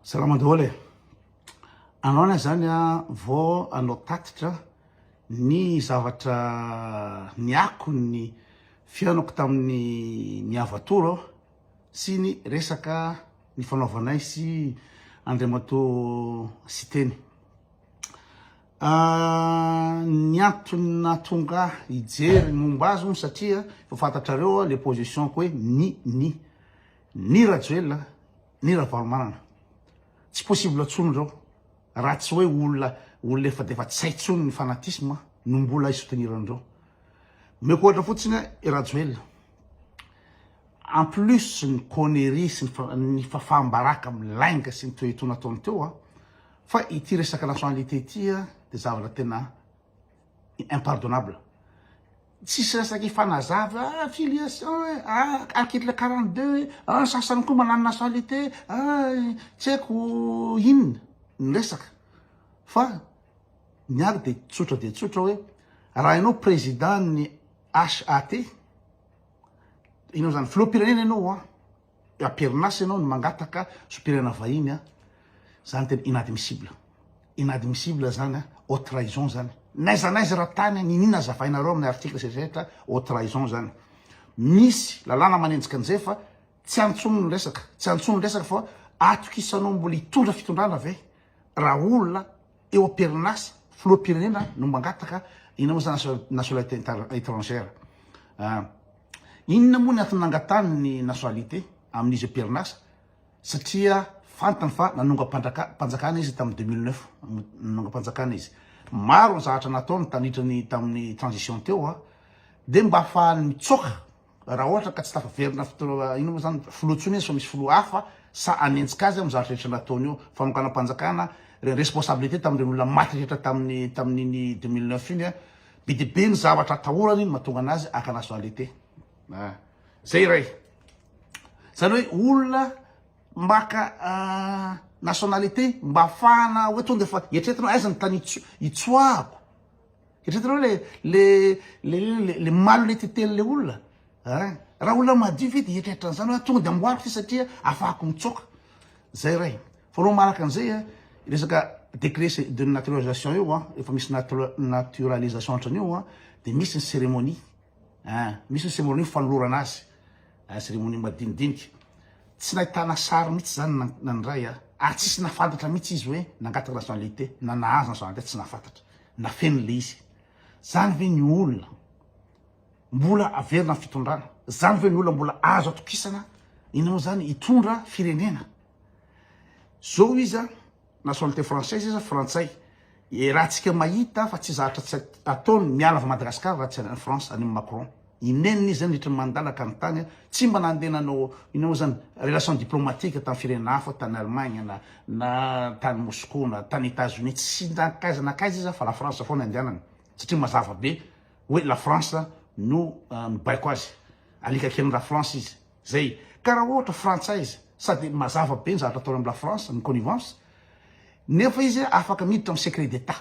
Salama daholo e. Anao na zany a vao anao tatitra ny zavatra ny akon'ny fihaonako tamin'ny miavatoro aho sy ny resaka ny fanaovanay sy Andriamatoa Siteny. Ah, ny antony nahatonga hijery momba azy satria efa fantatrareo le position ko hoe ni ni Ni Rajoelina ni Ravalomanana tsy possible tsony ireo raha tsy hoe olona olona efa defa tsy hay tsony ny fanatisme no mbola hi soutenir an'ireo. Omeko ohatra fotsiny i Rajoelina en plus ny connerie sy ny fafaham-baraka amin'ny lainga sy ny toetoa nataony teo fa ity resaka nationalité ity dia zavatra tena impardonnable tsisy resaka ifanazava ah, affiliation eh, ah, article 42 eh, ah, sasany koa manano nationalité ah, tsy haiko inona ny resaka fa ny ary dia tsotra dia tsotra hoe raha ianao président ny HAT ianao zany filoham-pirenena ianao a ah, Amperinasa ianao ny mangataka sompirana vahiny a! Zany tena inadmissible. Inadmissible zany a! Haute trahison zany. N'aiza n'aiza ra tany niniana azavainareo amin'ny article zay rehetra haute trahison zany. Misy lalàna manenjika an'izay fa tsy antsono ny resaka, tsy antsono ny resaka fa atokisanao mbola hitondra fitondrana ve? Ra olona Teo am-perinasa, filoham-pirenena no mangataka eny amin'ny Agence nationale etrangère. Inona moa ny antony nangatahany ny nationalité amin'izy eo am-perinasa? Satria fantany fa nanongam-panjakana izy tamin'ny deux mille neuf, nanongam-panjakana izy. Maro ny zavatra nataony tandritra ny tamin'ny transition teo dia mba hahafahany mitsoaka. Raha ohatra ka tsy tafaverina fotoana inona moa izany filoha intsony izy fa misy filoha hafa sa anenjika azy amin'ny zavatra rehetra nataony eo. Fanokanam-panjakana, re- responsabilité tamin'ireny olona maty rehetra tamin'ny tamin'iny 2009 iny a. Be dia be ny zavatra atahorany no mahatonga anazy haka nationalité. A, zay iray. Zany hoe olona maka nationalité mba hahafahana hoe tonga de efa eritreretina hoe aiza ny tany itso- itsoahako. Eritreretinao le le le le le malo le titely le olona eh raha olona madio ve dia hieritreritra an'izany hoe tonga dia amboariko ity satria afahako mitsoaka zay ray faharoa manaraka an'izay a resaka décret c'est de naturalisation io a efa misy natura- naturalisation hatran'io a dia misy ny cérémonie eh misy ny cérémonie fanolorana azy eh, cérémonie madinidinika tsy nahitana sary mihitsy izany na- na ny ray a ary tsisy nahafantatra mihitsy izy hoe nangataka nationalité na nahazo nationalité tsy nahafantatra Nafeniny le izy. Zany ve ny olona mbola averina am fitondrana? Zany ve ny olona mbola azo atokisana enao zany hitondra firenena? Zao izy an, nationalité française izy frantsay. Raha tsika mahita fa tsy zahatra tsy ataony miala avy Madagascar raha tsy any France any am Macron. I Neny izy zany ritran'i Mandala ka ny tany tsy mba nandeha nanao inona moa zany relation diplomatique tamin'ny firenena hafa tany Allemagne na na tany Moscou na tany Etats-Unis tsy nankaiza nankaiza izy zany fa la France foana andehanany satria mazava be hoe la France no mibaiko azy alika kelin'i la France izy zay ka raha ohatra frantsay izy sady mazava be ny zavatra ataony amin'i la France ny connivence nefa izy afaka miditra amin'ny secret d'Etat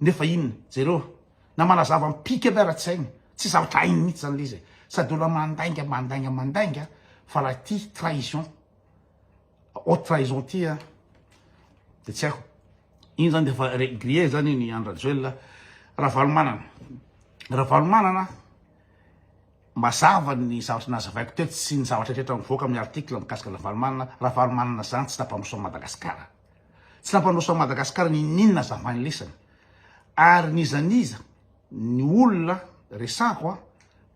nefa inona? Jereo na manazava am-pika aby ara tsainy, tsy zavatra hainy mihitsy zany le izy e! Sady olona mandainga mandainga mandainga fa raha ity trahison, haute trahison ity a! de tsy haiko iny zany de efa re griller zany iny i Andry Rajoelina Ravalomanana. Ravalomanana mazava ny zavatra nazavaiko teto sy ny zavatra rehetra mivoaka amin'ny article mikasika Ravalomanana, Ravalomanana zany tsy tapa-misaona Madagasikara. Tsy nampandroso an'i Madagasikara n'ininona aza ambany lesany. Ary n'iza n'iza ny olona resako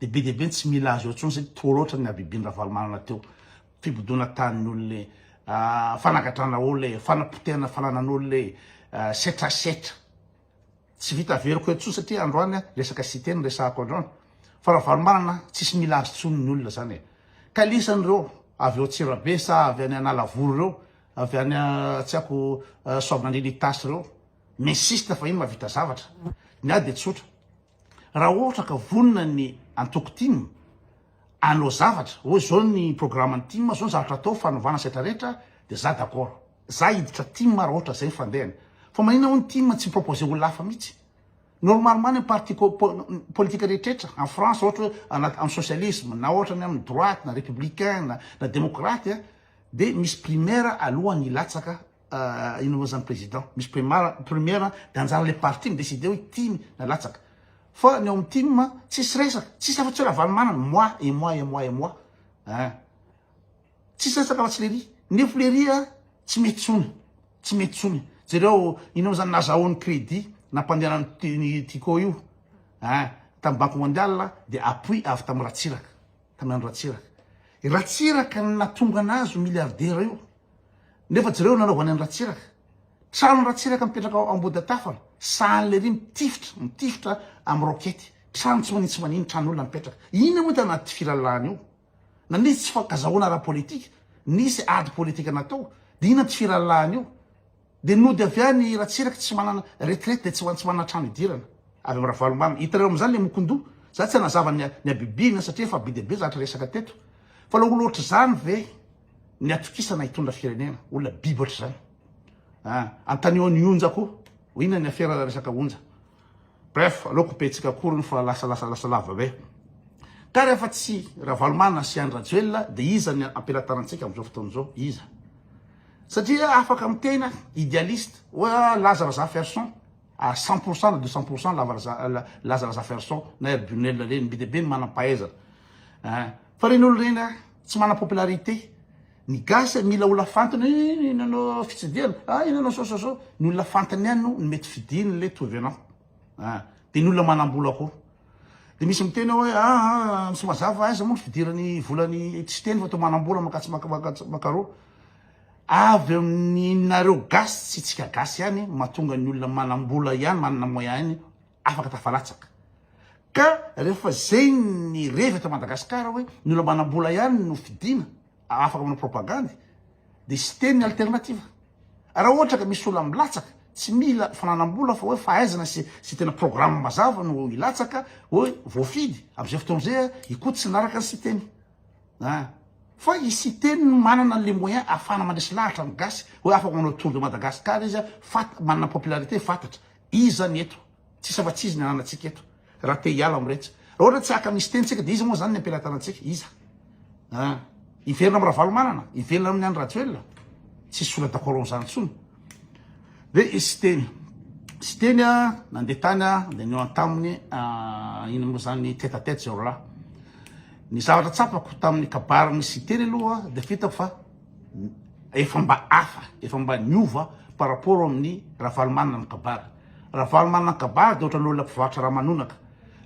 dia be dia be ny tsy mila azy eo intsony satria toa loatra ny habibian'i Ravalomanana teo. Fibodoana tanin'ny olona e, fanagadrana olona e, fanapotehana fananan'olona e, setra setra. Tsy vita averiko eto intsony satria androany resaka site no resahako androany. Fa Ravalomanana tsisy mila azy intsony ny olona zany e. Ka lisany ireo avy ao Antsirabe sa avy any Analavory ireo. Avy any Tsiako Soavinandriana Itasy ireo. Messiste fahiny mahavita zavatra. Ny ahy dia tsotra. Raha ohatra ka vonona ny antoko tim hanao zavatra, hoe izao ny programan'ny tim, izao ny zavatra atao, fanovana sy rehetra rehetra, dia za d'accord. Za hiditra tim raha ohatra izay ny fandehany. Fa maninona hoy ny tim tsy mi-proposer olona hafa mihitsy? Normalement ny parti politique rehetra rehetra en France ohatra hoe anaty amin'ny socialisme na ohatra ny amin'ny droite na républicain na na démocrate Dia misy primaire alohan'ny hilatsaka ino moa zany président, misy primaire dia anjaran'ny le parti mi-decide hoe tim na latsaka. Fa ny ao amin'ny tim tsisy resaka, tsisy afa tsy hoe Ravalomanana, moi et moi et moi et moi ein. Tsisy resaka afa tsy lery. Nefo lery tsy mety tsony, tsy mety tsony. Jereo ino moa zany nazahoany crédit nampandehanany ny Tiko io ein, tamin'ny banque mondiale dia appui avy tamin'i Ratsiraka. Tanan Ratsiraka. I Ratsiraka no natonga anazy ho milliardaire io. Nefa jereo ny nanaovany an'i Ratsiraka. Trano Ratsiraka mipetraka ao Ambohidatafana, sahan'ilay ery mitifitra, mitifitra amin'ny roquette. Trano tsy manintsy manin, tranon'olona mipetraka. Inona moa tana ity filalahana io? Na nisy tsy fankazahoana ara-politika, nisy ady politika natao, dia inona ity filalahana io? Dia nody avy any i Ratsiraka tsy manana retraite dia tsy ho any tsy manana trano hidirana. Avy am Ravalomamy. Hitanareo amizany le mokondoha. Za tsy hanazava ny ny habibiana satria efa be dia be zatra resaka teto. Fa la olona ohatr'izany ve ny atokisana hitondra firenena. Olona biby ohatr'izany. An! Antanio an'i Onja koa. Ho inona ny afera resaka Onja. Bref, aleoko mpihetsika akoriny fa lasa lasa lasa lava be. Ka rehefa tsy Ravalomanana sy Andry Rajoelina dia iza ny ampelatanantsika amin'izao fotoana izao? Iza? Satria afaka miteny aho, idealiste, hoe laza raza ferson, à 100 pour cent na 200 pour cent lava raza laza raza ferson na Air Bunel ireny, be dia be ny manam-pahaizana. Fa ireny olona ireny tsy manam-popularité. Ny gasy mila olona fantiny iny nanao fitsidihana ah iny nanao sao sao sao ny olona fantiny ihany no mety fidiny ilay tovenant ah dia ny olona manambola koa dia misy miteny hoe ah ah tsy mazava aiza moa ny fidirany volany tsy teny fa toa manambola makatsy makaroa avy amin'inareo gasy tsy tsika gasy ihany mahatonga ny olona manambola ihany manana moyen ihany afaka tafalatsaka. Ka rehefa zay ny revy eto Madagascar hoe ny olona manambola ihany no fidina afaka manao propagandy de siteny ny alternative. Raha ohatra ka misy olona milatsaka tsy mila fananambola fa hoe fahaizana sy sy tena programme mazava no hilatsaka hoe voafidy amzay fotoana zay i Koto tsy nanaraka ny siteny. A. Fa i siteny no manana le moyen afahana mandresy lahatra ny gasy hoe afaka manao tour de Madagascar izy fat manana popularité fatatra Iza ny eto? Tsisy afa tsy izy ny ananantsika eto. Raha te hiala amin'iretsy. Raha ohatra tsy haka misy teny tsika dia iza moa izany ny ampelatanantsika? Iza? Ah. Hiverina amin'i Ravalomanana? Hiverina amin'i Andry Rajoelina? Tsisy sola d'accord amin'izany intsony. Dia i Siteny. Siteny ah, nandeha tany ah, dia nihaona taminy ah, ino moa izany ny tête à tête zay roalahy. Ny zavatra tsapako tamin'ny kabarin'i Siteny aloha dia fitako fa. efa mba hafa, efa mba niova par rapport amin'ny Ravalomanana ny kabary. Ravalomanana ny kabary dia ohatran'ny olona mpivarotra ramanonaka.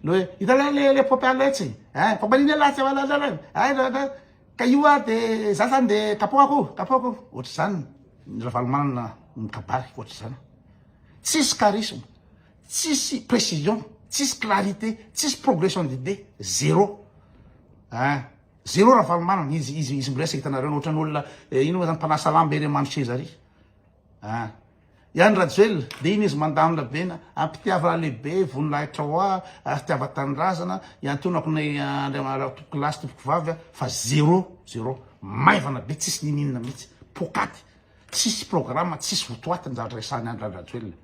Ilay hoe hita ilay ilay ilay paompy alaitsy, eh paompy an'iny alaitsy zay hoalala ilay, hay da da ka io ary dia za zany dia kapohako, kapohako. Ohatr'izany ny Ravalomanana ny kabary, ohatr'izany. Tsisy charisme, tsisy précision, tsisy clarité, tsisy progression d'idées, zéro. Eh. Zero Ravalomanana izy izy izy miresaka hitanareo no otrany olona ino ma zany mpanasa lamba ery amano seza ary ah Ihany Rajoelina de ino izy mandamina be na ampitiava lehibe voninahitra hoa ary fitiava tanindrazana iantonako ny Andriamanitra tompoko lahy sy tompoko vavy ah fa zero zero maivana be tsisy nininona mihitsy pokaty tsisy programa tsisy votoaty ny zavatra resahany Andry Rajoelina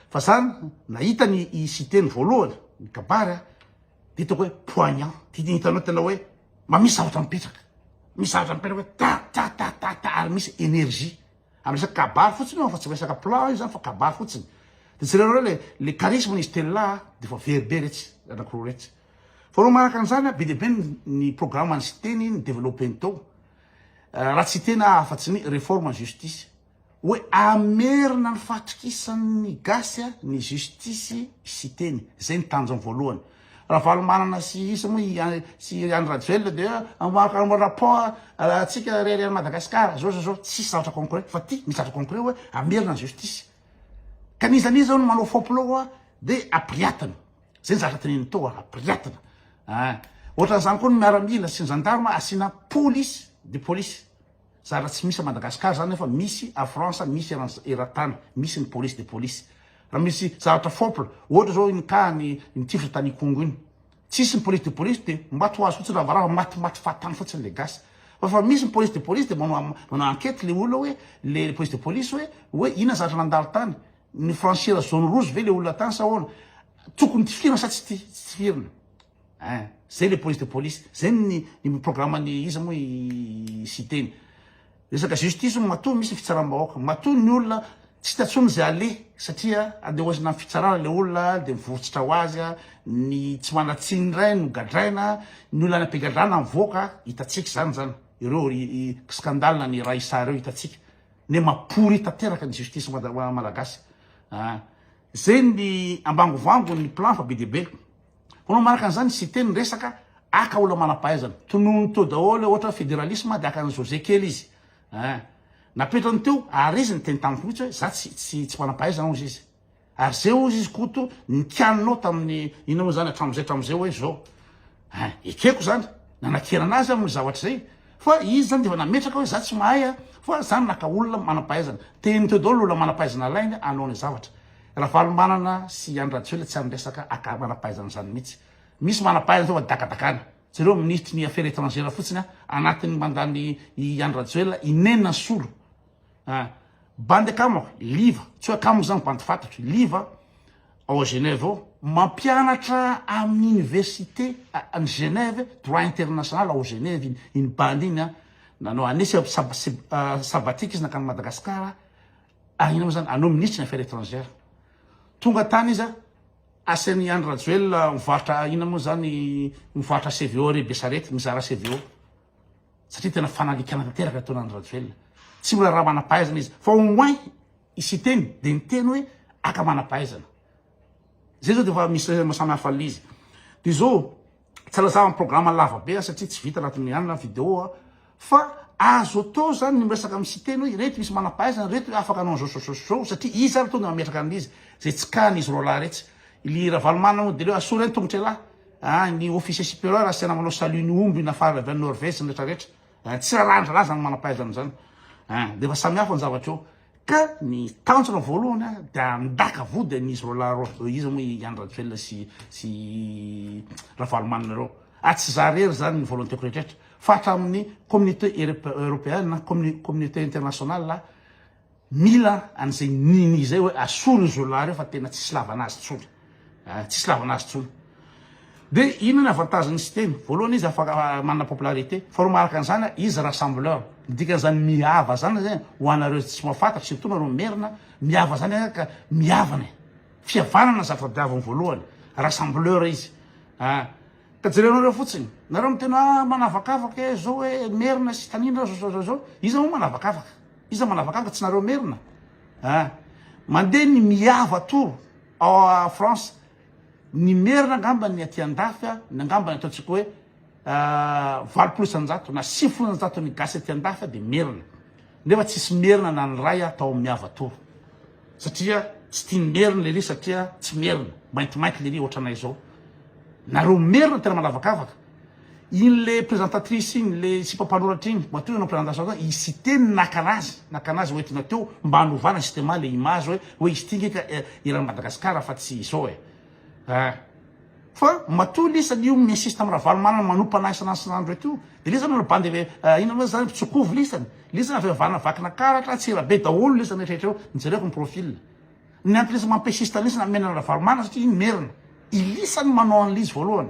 fa zany nahita ny i Siteny voalohany ny kabary ah hitako hoe poignant hitanao tena hoe mba misy zavatra mipetraka misy zavatra mipetraka hoe ta ta ta ta ta ary misy énergie amin'ny resaka kabary fotsiny io fa tsy resaka plan io zany fa kabary fotsiny de tsy rereo le le charisme izy telona de fa very be retsy anankiroa retsy fa reo manaraka an'izany be dia be ny programme ny siteny ny développé-ny tao raha tsy tena afa-tsy ny réforme en justice hoe hamerina ny fahatokisan'ny gasy ny justice i Siteny, zay ny tanjony voalohany. Ravalomanana sy isa moa i sy Andry Rajoelina dia mamoaka ny rapport antsika irery any Madagascar zao zao zao, tsisy zavatra concret fa ty misy zavatra concret hoe hamerina ny justice ka n'iza n'iza hono manao fôpilô hoa de apiriatiny, zay ny zavatra teneniny teo hoa apiriatina a, ohatran'izany koa ny miaramila sy ny gendarme asiana police de police. Zara tsy misy à Madagascar zany nefa misy à France misy eran'ny eran-tany misy ny police de police raha misy zavatra fopl ohatra zao iny cas ny ny tifitra tany Ikongo iny tsisy ny police de police de mba to azy fotsiny ravarava maty maty fahatany fotsiny le gasy fa fa misy ny police de police de manao manao enquete le olona hoe le police de police hoe hoe inona zavatra nandalo tany ny franchir zone rouge ve le olona tany sa ahoana tokony tifirina sa tsy tifirina Hein, zay le police de police, zay ny ny programme ny iza moa i Siteny. Resaka justice moa matoa misy ny fitsaram-bahoaka, matoa ny olona tsy hita tsony zay aleha satria andeha hoaizina am fitsarana le olona de mivorontsitra ho azy a, ny tsy manan-tsiny ndray no gadraina, ny olona any am-pigadrana mivoaka, hitatsika zany zany, ireo scandale ny Raissa ireo hitatsika, ne mapory tanteraka ny justice malagasy, ah zay ny ambangovangony plan fa be dia be. Ho anao manaraka an'izany, Siteny ny resaka, haka olona manam-pahaizana. Tonony teo daholo hoe ohatra hoe federalisme dia haka an'i José kely izy. Hein. Napetrany teo ary izy niteny taminy fotsy hoe za tsy tsy tsy manam-pahaizana hozy izy. Ary zay hozy izy Koto nikianinao tamin'ny inona moa zany hatramin'izay hatramin'izay hoe zao. Hein. Ekeko zany. Nanakena anazy aho amin'ny zavatra izay. Fa izy zany dia efa nametraka hoe za tsy mahay a, fa za naka olona manam-pahaizana. Tehiny teo daholo ny olona manam-pahaizana alainy hanao ny zavatra. Ravalomanana sy Andry Rajoelina tsy amresaka aka manampahaizana zany mitsy misy manampahaizana zao fa dakadakana jereo ministry ny affaire etrangère fotsiny a anatiny mandany i Andry Rajoelina inenina ny solo a bandy akamo liva tsy hoe akamo zany bandy fatatro liva ao Genève ao mampianatra amin'ny université any Genève droit international ao Genève iny iny bandy iny a nanao année sabbatique izy nankany Madagascar Ary inona moa izany? Anao minisitry ny affaires étrangères. Tonga tany izy, asan' i Andry Rajoelina mivarotra inona moa izany, mivarotra CVO ery Besarety, mizara CVO. Satria tena fanalikana tanteraka ny ataon' Andry Rajoelina. Tsy mbola raha manam-pahaizana izy. Fa au moins i Siteny dia niteny hoe aka manam-pahaizana. Izay izao dia efa misy samy hafa an'ilay izy. Dia izao, Tsy alazava ny programme lava be satria tsy vita anatin'ny hanina video fa azo atao zany ny miresaka amin'ny Siteny hoe ireto misy manampahaizana ireto hoe afaka hanao an'izao izao izao satria izy ary tonga mametraka an'izy izay tsy kany izy roalahy retsy Ily Ravalomanana moa dia leo asoro eny tongotra elahy ah ny officier superieur asiana manao salut ny omby nafarana avy any Norvège retraretra ah tsy rarahany zalahy zany manampahaizana zany ah dia efa samihafa ny zavatra eo Ka ny tanjona voalohany a, dia handaka vody an'izy roa lahy ireo, hoe iza moa i Andry Rajoelina sy sy Ravalomanana ireo. Ary tsy izaho irery izany ny volonté-ko rehetrrehetra, fa hatramin'ny communauté européenne, communauté internationale, mila an'izay nini izay hoe asolo izy roa lahy ireo fa tena tsisy lavana azy intsony. Ah, tsisy lavana azy tsony. De inona ny avantagen'ny système? Voalohany izy afaka ah, manana popularité. Faharoa maharaka an'izany, ah, izy rassembleur. Ny dikan'izany mihava zany zay ho anareo tsy mahafantatra surtout nareo merina, mihava zany ah, ka mihavana e. Fihavanana ny zavatra tadiaviny voalohany, rassembleur izy. Ah, ka jereo anareo fotsiny. Nareo miteny hoe ah, manavakavaka e, zao e, merina sy tanindra zao zao zao. Iza moa manavakavaka? Iza manavakavaka tsy nareo merina? Ah, mandeha ny mihava toro. Ao France ny merina angamba ny aty andafy a, ny angamba ny ataontsika hoe valopolo isanjato na sifolo isanjato ny gasy aty andafy a dia merina. Nefa tsisy merina na ny ray a tao amin'ny hava tour. Satria tsy tia ny merina lery satria tsy merina, maintimainty lery ohatranay zao. Nareo merina tena manavakavaka. Iny le presentatrice iny le sipa mpanoratra iny matoa ianao presentations zany i site no naka anazy naka anazy ho entina teo mba hanovana système le image hoe hoe izy ty nge eran'i Madagascar fa tsy izao e ah fa matoa lesa io mi insiste am Ravalomanana manompa anahy isan'andro isan'andro reto de lesa manao bande vé ah inona moa zany mpitsokovo lesany lesa avy avana vakina karatra antsirabe daholo lesany rehetra rehetra eo jereko ny profil ny anton'ny lesa mampisiste an'lesany hamena an'i Ravalomanana satria iny merina i lisany manao an'le izy voalohany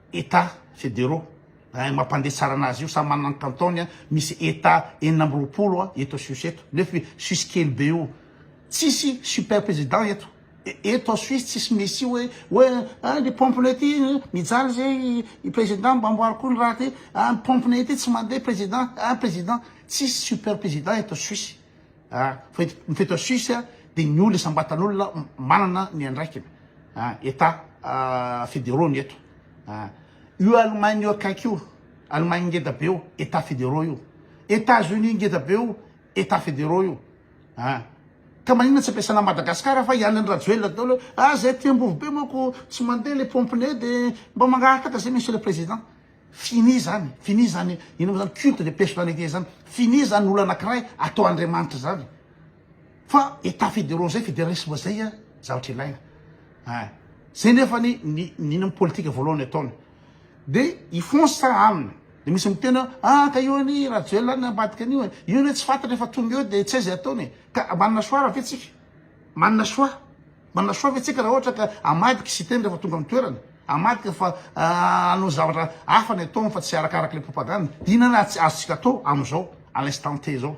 Etats Fédéraux eh, mampande tsarana azy io, samy manana ny cantons, misy Etats enina amby roapolo eto Suisse eto, nefa Suisse kely be io, tsisy super président eto, eto Suisse tsisy misy hoe hoe ah ny pompinay ity mijaly zay i président mba amboary koa ny raha ty, ah ny pompinay ity tsy mandeha président, ah président, tsisy super président eto Suisse, Fety ao Suisse dia ny olona isam-batan'olona manana ny andraikiny. Etats fédéraux ny eto. Io Allemagne io akaiky io, Allemagne ngeda be io, Etats fédéraux io. Etats-Unis ngeda be io, Etats fédéraux io. Ka maninona tsy ampiasana an'i Madagasikara fa i Andry Rajoelina daholo hoe ah zay aty Ambovobe manko tsy mandeha le pompe-ny dia mba mangahatak'izay Monsieur le Président. Fini zany, fini zany, ino mo zany culte de personnalité zany, fini zany olona anakiray atao Andriamanitra zany, fa état fédéraux zay, fédéralisme zay a, zavatra ilaina ein, zay nefany ny ny ny politika voalohany ataony de hifonsa aminy, de misy miteny hoe ah ka io anie i Rajoelina any ambadika an'io e, io anie tsy fantatra e fa tonga eo de tsy hay zay ataony e, ka manana choix raha ve tsika? manana choix? Manasoa ve tsika raha ohatra ka amadika Siteny rehefa tonga amin'ny toerana? Amadika fa hanao zavatra hafa ny ataony fa tsy arakaraka ilay propagande? Inona raha tsy azontsika atao amin'izao à l'instant T izao?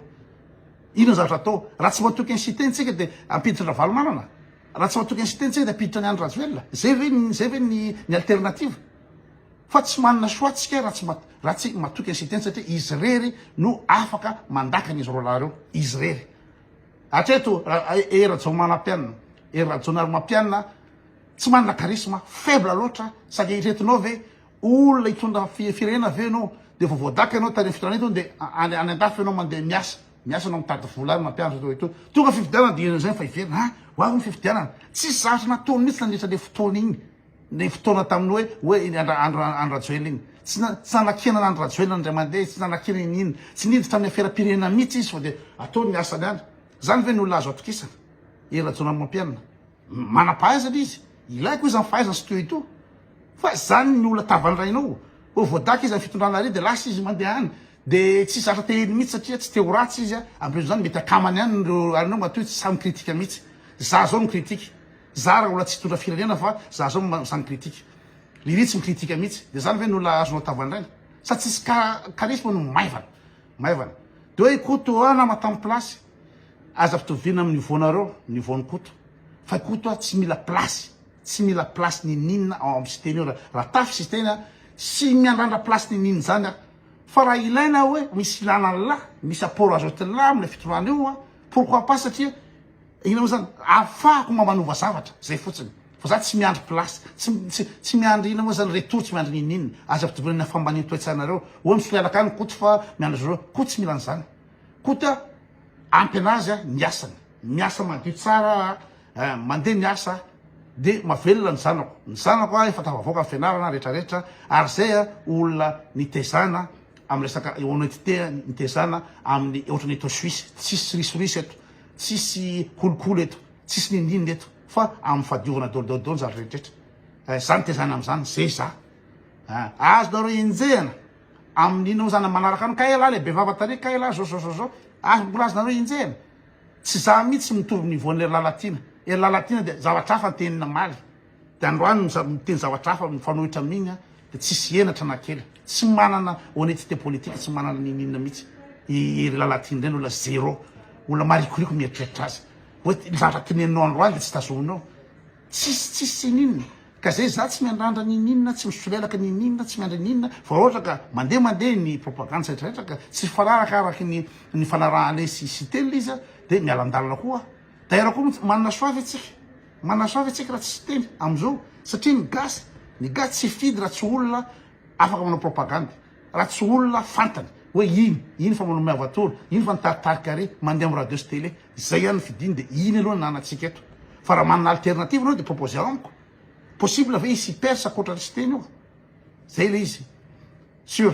Inona zavatra atao? Raha tsy matoky an'i Siteny tsika dia hampiditra an-dRavalomanana? Raha tsy matoky an'i Siteny tsika dia hampiditra an'i Andry Rajoelina? Zay ve zay ve ny ny alternative? Fa tsy manana choix tsika raha tsy raha tsy matoky an'i Siteny satria izy irery no afaka mandaka an'izy roalahy ireo, izy irery. Hatreto Hery Rajaomanampianina, Hery Rajaonarimampianina, tsy manana charisme, faible loatra, saingy iretonao ve olona hitondra firenena ve ianao dia vao voadaka ianao tany fitondrana itony dia any any andafy ianao mandeha miasa, miasa ianao mitady vola any mampianatra toa itony. Tonga fifidianana dia ianao izay no efa hiverina, ha! ho avy ny fifidianana. Tsisy zavatra nataony mihitsy nandritra an'ilay fotoana iny. ny fotoana tamin'ny hoe hoe iny Andry Andry Andry Rajoelina iny. Tsy na- tsy nanakiana an'Andry Rajoelina indray mandeha izy, tsy nanakiana iny iny. Tsy niditra amin'ny aferam-pirenena mihitsy izy fa dia ataony ny asany any. Izany ve no olona azo atokisana? I Rajaonamampianina. M- Manam-pahaizana izy. Ilaiko izy amin'ny fahaizany sy tohitoho. Fa izany no olona tavandrainao. Vao voadaka izy amin'ny fitondrana ary dia lasa izy mandeha any. Dia tsy zatra tehiny mihitsy satria tsy te ho ratsy izy. Ambolezo izany mety akamany any ireo anao matoa izy tsy sahy mi-critique mihitsy. Izaho izao mi-critique. Za raha olona tsy hitondra firenena fa za zao sa mi-critique. Lily tsy mi-critique mihitsy. De zany ve no olona azonao tavandraina? Sa tsisy charisme no maivana? Maivana. De hoe i Koto ah nama tam place. Aza ampitoviana am niveau nareo, niveau an'i Koto. Fa i Koto ah tsy mila place. Tsy mila place ninininona ao am Siteny io. Raha tafy Siteny ah tsy miandrandra place ninininona zany ah. Fa raha ilaina hoe misy ilana an'lah, misy apport azotin'lah am le fitondrana io ah, pourquoi pas satria Inona moa zany? Afahako mba manova zavatra, zay fotsiny. Fa za tsy miandry place, tsy tsy tsy miandry inona moa zany retour, tsy miandry ninin. Aza ampitovina amina fambanin toetsainareo. Oa ny solelaka any Koto fa miandry azy ireo. Koto tsy mila an'izany. Koto a, ampy anazy a ny asany. Miasa madio tsara a, eh, mandeha miasa a, dia mavelona ny zanako. Ny zanako a efa tafavoaka ny fianarana rehetra rehetra ary zay a olona nitezana am resaka honnetete, nitezana aminy ohatran'ny eto Suisse. Tsisy risoriso eto. Tsisy kolikoly eto, tsisy nindinina eto fa amin'ny fadiovana daoldaoly daoly zany rehetrarehetra. Eh, za nitezana amin'izany, zay za. Eh, azonareo enjehana amin'ny inona moa zany manaraka an'i Kaela le bevava tary Kaela zao zao zao zao. Ah, mbola azonareo enjehana. Tsy za mihitsy mitovy niveau-n'i Lalatiana. Ry Lalatiana dia zavatra hafa ny tenin'i Namaly. Dia androany miteny zavatra hafa mifanohitra amin'iny aho dia tsisy henatra na kely. Tsy manana honnetite politique, tsy manana ninoninona mihitsy. I Hery Lalatiana indray no olona zero, olona marikoriko mieritreritra azy. Hoe ny zavatra teneninao androany dia tsy tazominao. Tsisy tsisy tsy nini. Ka zay za tsy miandrandra ninoninona, tsy misolelaka ninoninona, tsy miandry ninoninona fa raha ohatra ka mandeha mandeha ny propagande sy rehetra rehetra ka tsy hifanaraka araky ny nifanarahanay sy sy telo izy dia miala an-dalana koa aho. D'ailleurs koa manana choix ve tsika? Manasoa ve tsika raha tsy siteny amizao satria ny gasy ny gasy tsy hifidy raha tsy olona afaka manao propagande raha tsy olona fantany hoe iny iny fa manome avatora iny fa nitaritarika re mandeha am radio sy tele zay ihany ny fidiny de iny aloha ny anantsika eto fa raha manana alternative anao de proposeo amiko possible ve hisy hipersa akoatran'ny siteny io zay le izy sur